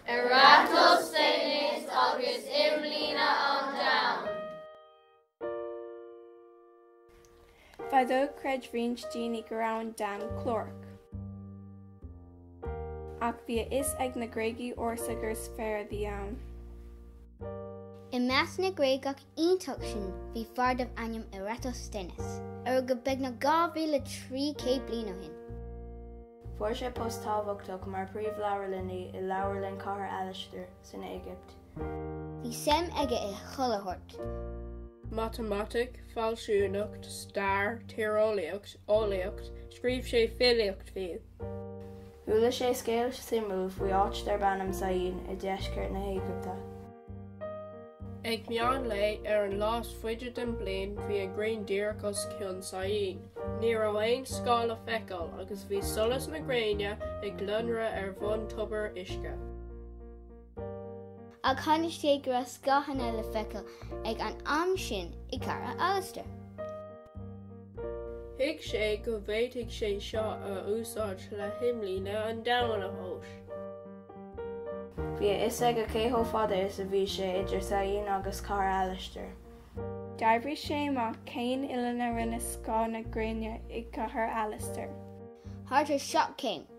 Eratosthenes agus Imlíne an Domhain. Fadó chreid roinnt daoine go raibh an domhan clárach. Ach bhí a fhios ag na Gréagaigh ársa gur sféar a bhí ann. I measc na nGréagach iontach sin bhí fear darb ainm Eratosthenes, a rugadh beagnach 2,300 bliain ó shin. Fuair sé post tábhachtach mar phríomhleabharlannaí i leabharlann Chathair Alastair san Éigipt. Bhí suim aige i chuile shórt, matamaitic, fealsúnacht, stair, tíreolaíocht, eolaíocht, scríobh sé filíocht fiú. Chuala sé scéal suimiúil faoi áit darb ainm Syene i deisceart na hÉigipte. Ag meán lae ar an lá is faide den bhliain bhí an ghrian díreach os cionn Syene. Ní raibh aon scáth le feiceáil agus bhí solas na gréine ag lonradh ar bhun tobair uisce. Ach chonaic sé go raibh scáthanna le feiceáil ag an am sin i gCathair Alastair. Thuig sé go bhféadfadh sé seo a úsáid le himlíne an domhain a thomhas. Bhí a fhios aige cé chomh fada is a bhí sé idir Syene agus Cathair Alastair. D'oibrigh sé amach cén uillinn a rinne scáth na gréine i gCathair Alastair. Thart ar sheacht gcéim.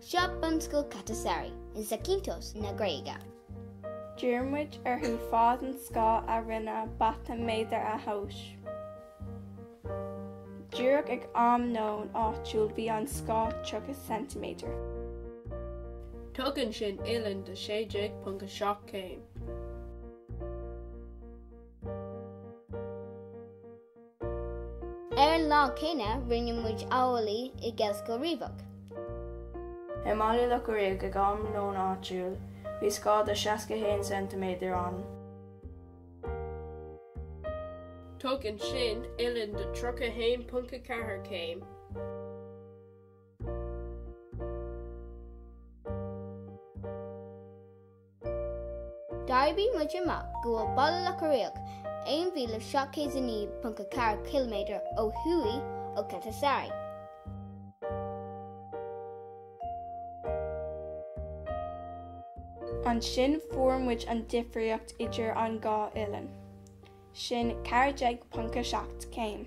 Seo bunscoil Katastari, i Zakynthos na Gréige. D'iarr muid orthu fad an scáth a rinne bata méadar a thomhas. Díreach ag am nóin áitiúil bhí an scáth 30 ceintiméadar. Tugann sin uillinn de 16.7 céim. Ar an lá céanna rinne muid amhlaidh i nGaelscoil Riabhach i mBaile Locha Riach ag am nóin áitiúil bhí scáth de 61 ceintiméadar ann. Tugann sin uillinn de 31.4 céim. D'oibrigh muid amach go bhfuil Baile Locha Riach 1,709.4 km ó thuaidh ó Katastari. Ansin fuair muid an difríocht idir an dhá uillinn, sin 14.7 céim.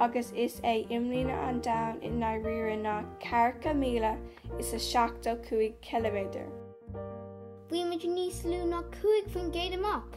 agus is é imlíne an domhain i ndáiríre ná ceathracha míle is a seachtó cúig chiliméadar. Bhí muid níos lú ná cúig faoin gcéad amach!